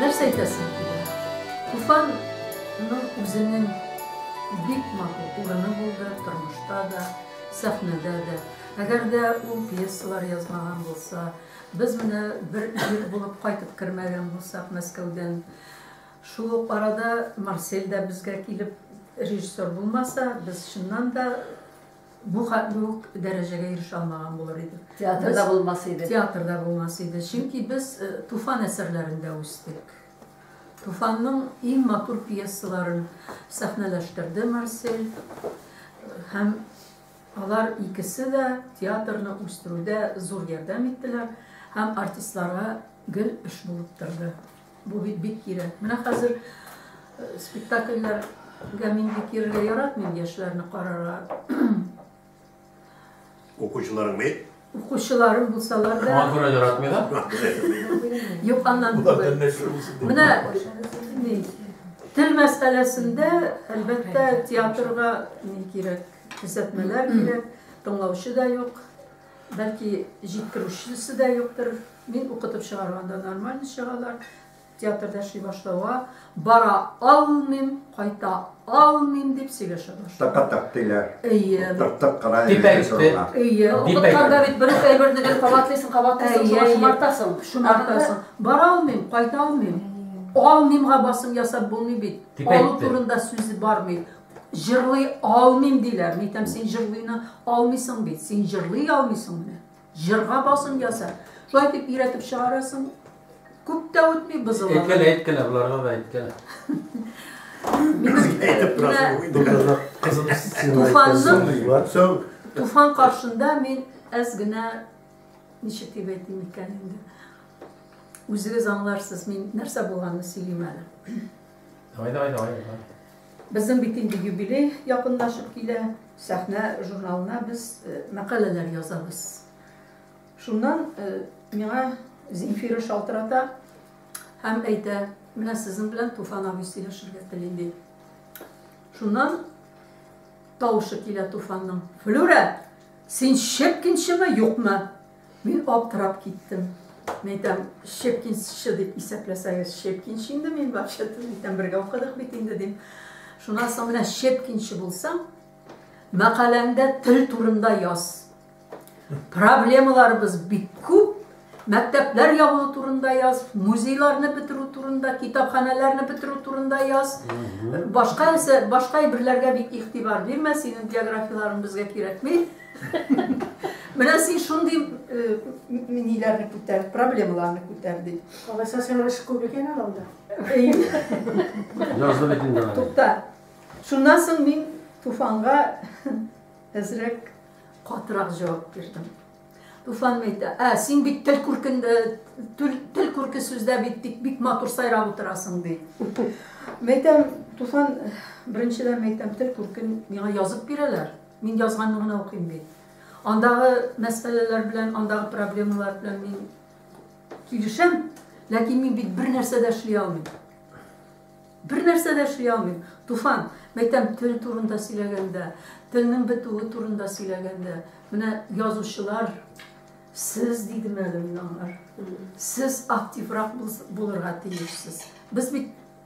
Нәрсә әйтәсең килә? Туфанның үзенең бик матур урыны булды, тормышта да, сәхнәдә дә. Әгәр дә ул пьесалар язмаган булса, Без менә бер ир булып кайтып кермәгән булсак Мәскәүдән. Шул ук арада Марсель дә безгә килеп режиссер булмаса, без чыннан да бу хәтле үк дәрәҗәгә ирешә алмаган булыр идек. Театр да булмас иде. Театр да булмас иде. Чөнки без Туфан әсәрләрендә үстек. Туфанның иң матур пьесаларын сәхнәләштерде Марсель. Һәм Алар икесе дә театрны үстерүдә зур ярдәм иттеләр һәм артистларга гел эш булып торды. Бу бит бик кирәк. Менә хәзер спектакльләргә мин бик йөрергә яратмыйм, яшьләрне карарга. Укучыларың бит. Укучыларым булсалар да. Моңа күрә яратмый да. Юк, аннан түгел. Менә ни, тел мәсьәләсендә, әлбәттә, театрга ни кирәк, күрсәтмәләр кирәк, тыңлаучы да юк, бәлки җиткерүчесе дә юктыр. Мин укытып чыгарганда нормально чыгалар. Театрда эшли башлауга бара алмыйм, кайта алмыйм дип сөйләшә башлый. Тык-тык диләр. Әйе. Тык-тык кына Дип әйтте. режиссерлар. Әйе, Дип укытканда әйтте. бит бер үк әйберне гел кабатлыйсың, кабатлыйсың, Әйе, шуңа әйе. шомартасың. Шомартасың. Бара алмыйм, кайта алмыйм. Алмыймга басым ясап булмый бит. Дип Алу әйтте. турында сүз бармый. Җырлый алмыйм диләр. Нитәм син җырлыйны алмыйсың бит. Син җырлый алмыйсың менә. Җырга басым яса. Шулай дип өйрәтеп чыгарасың. Күп тә үтми бозылалар. Әйткәлә, әйткәлә, боларга да әйткәлә. Туфанның Туфан каршында мин әз генә ничек дип әйтим икән инде. Үзегез аңларсыз, мин нәрсә булганны сөйлим әле. Давай, давай, давай. Безнең бит инде юбилей якынлашып килә. Сәхнә журналына без э, мәкаләләр язабыз. Шуннан э, миңа Земфира шалтырата һәм әйтә, менә сезнең белән Туфан абый сөйләшергә тели ди. Шуннан тавышы килә Туфанның. Флюра, син чепкинчеме, юкмы? Мин аптырап киттем. Мин әйтәм, Щепкинсчы дип исәпләсәгез, Щепкинчы инде мин вообще-то, әйтәм, бергә укыдык бит инде, дим. Шуннан соң менә Щепкинчы булсаң, мәкаләңдә тел турында яз. Проблемаларыбыз бик күп, мәктәпләр ябу турында яз, музейларны бетерү турында, китапханәләрне бетерү турында яз. Башка нәрсә, башка әйберләргә бик игътибар бирмә, синең биографияләрең безгә кирәкми. Менә син шундый ниләрне күтәр, проблемаларны күтәр дип. Алайса син эш күп икән әле анда. Язды бит инде. Тукта. Шуннан соң мин Туфанга әзрәк катырак җавап бирдем. Туфан әйтә, "Ә, син бит тел күркендә, тел күрке сүздә бит тик бик матур сайрап утырасың", ди. Мәйтәм, Туфан, беренчедән мәйтәм, тел күркен миңа язып бирәләр. Мин язганны гына укыйм бит. Андагы мәсьәләләр белән, андагы проблемалар белән мин килешәм, ләкин мин бит бер нәрсә дә эшли алмыйм. Бер нәрсә дә эшли алмыйм. Туфан, мәйтәм, тел турында сөйләгәндә, телнең бетүе турында сөйләгәндә, менә язучылар сез дидем әле мин аңар. Сез активрак булырга тиешсез. Без бит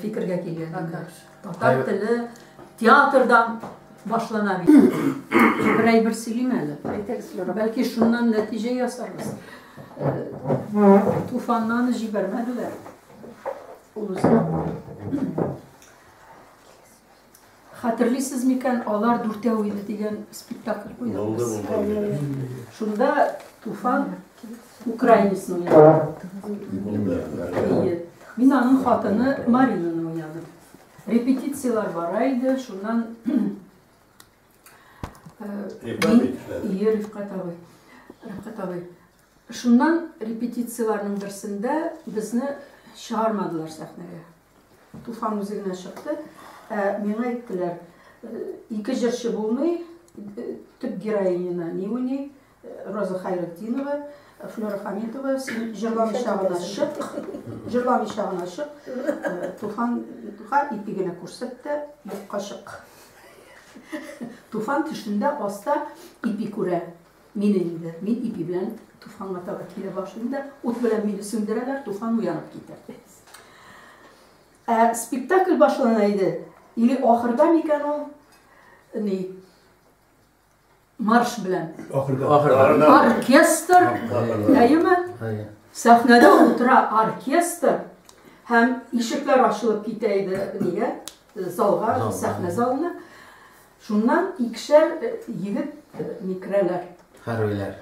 фикергә килгән. Татар теле театрдан башлана бит. Бер әйбер сөйлим әле. Бәлки шуннан нәтиҗә ясарбыз. Туфаннан җибәрмәделәр. Ул Хәтерлисез микән, алар дүртәү иде дигән спектакль куйдыгыз. Шунда Туфан украинецны уйнады. Мин аның хатыны Маринаны уйнадым. Репетицияләр бара иде, шуннан Рифкат абый. Рифкат абый. Шуннан репетицияләрнең берсендә безне чыгармадылар сәхнәгә. Туфан үзе генә чыкты. Ә, миңа әйттеләр, ике җырчы булмый, төп героиняна не уйный, Роза Хайретдинова, Флера Хамитова, син җырламыйча гына чык, җырламыйча гына чык, Туфан, Туфан ипи генә күрсәт тә, юкка чык. Туфан төшендә аста ипи күрә. Мине инде, мин ипи белән Туфанга таба килә башлыйм да, ут белән мине сүндерәләр, Туфан уянып китә. Ә спектакль башлана иде. Или ахырда микән ул? Ни? Марш белән. Ахырда. Ахырда. Оркестр. Әйеме? Әйе. Сәхнәдә утыра оркестр һәм ишекләр ачылып китә иде нигә? Залга, сәхнә залына. Шуннан икешәр егет ни керәләр. Хәрбиләр.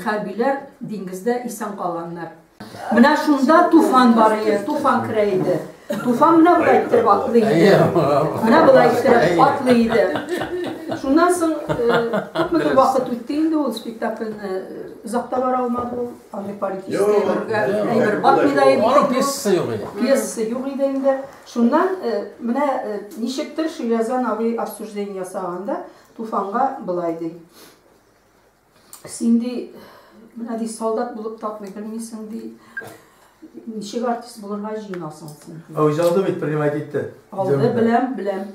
Хәрбиләр диңгездә исән калганнар. Менә шунда туфан бар иде, туфан керә иде. Туфан менә болай иттереп атлый иде. Менә болай иттереп атлый иде. Шуннан соң күпмедер вакыт үтте инде ул спектакльне озакта бара алмады ул. Аны политический әйбергә әйбер батмый да иде. Пьеса юк иде. Пьеса юк иде инде. Шуннан, менә ничектер Шөйләзан абый обсуждение ясаганда, Туфанга болай ди. Син ди, менә ди, солдат булып татмый белмисең ди. Ничек артист булырга җыенасың син? А үзе алды бит принимать итте. Алды, беләм, беләм.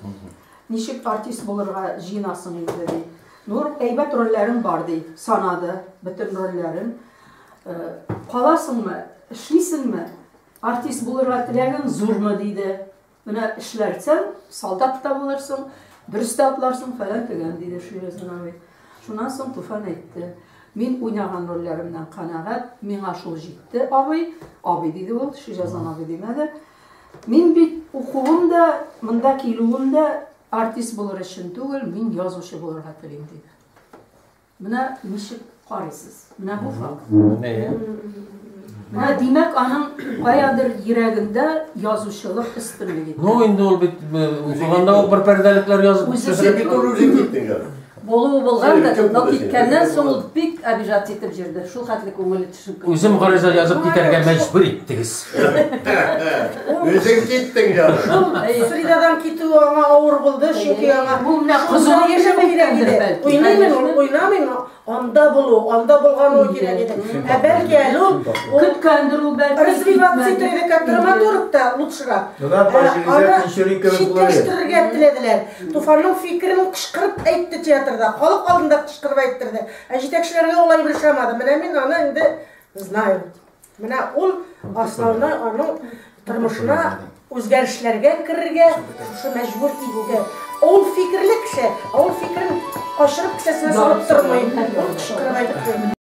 Ничек артист булырга җыенасың инде ди. Нур әйбәт рольләрем бар ди, санады бөтен рольләрен. Каласыңмы, эшлисеңме? Артист булырга теләгең зурмы? диде. Менә эшләрсәң, солдат та булырсың, дөрес тә атларсың, фәлән төгән, диде Ширезин абый. Шуннан соң Туфан әйтте. Мин уйнаган рольләремнән канәгать, миңа шул җитте, абый. Абый диде ул, Ширезин абый димәде. Мин бит укуым да, монда килүем дә артист булыр өчен түгел, мин язучы булырга телим, диде. Менә ничек карыйсыз? Менә бу факт. Менә димәк, аның каядыр йөрәгендә язучылык өстенлеге. Ну, инде ул бит укыганда ук бер пәрдәлекләр язып төшереп бит ул үзе киттең. Булуы булган да, но киткәннән соң ул бик обижать итеп җөрде. Шул хәтле күңеле Үзем гариза язып китәргә мәҗбүр иттегез. Үзең киттең я. Фридадан китү аңа авыр булды, чөнки аңа бу менә кызыл яшәп кирәк иде. Уйнамый, уйнамый, анда булу, анда булган ул кирәк иде. Ә бәлки әле ул көткәндер ул бәлки. Развиваться итә иде, как драматург та лучшерак. Менә Фаҗилизә Кишери кебек булды. Читтәштерергә теләделәр. Туфанның фикерен кычкырып әйтте театрда, халык алдында кычкырып әйттерде. Ә җитәкчеләргә ул әйбер ошамады. Менә мин аны инде знаю. Менә ул основной аның тормышына үзгәрешләргә керергә шушы мәҗбүр итте. Ул фикерле кеше, ул фикерен качырып кесәсенә салып тормый. Ул кычкырып әйтте.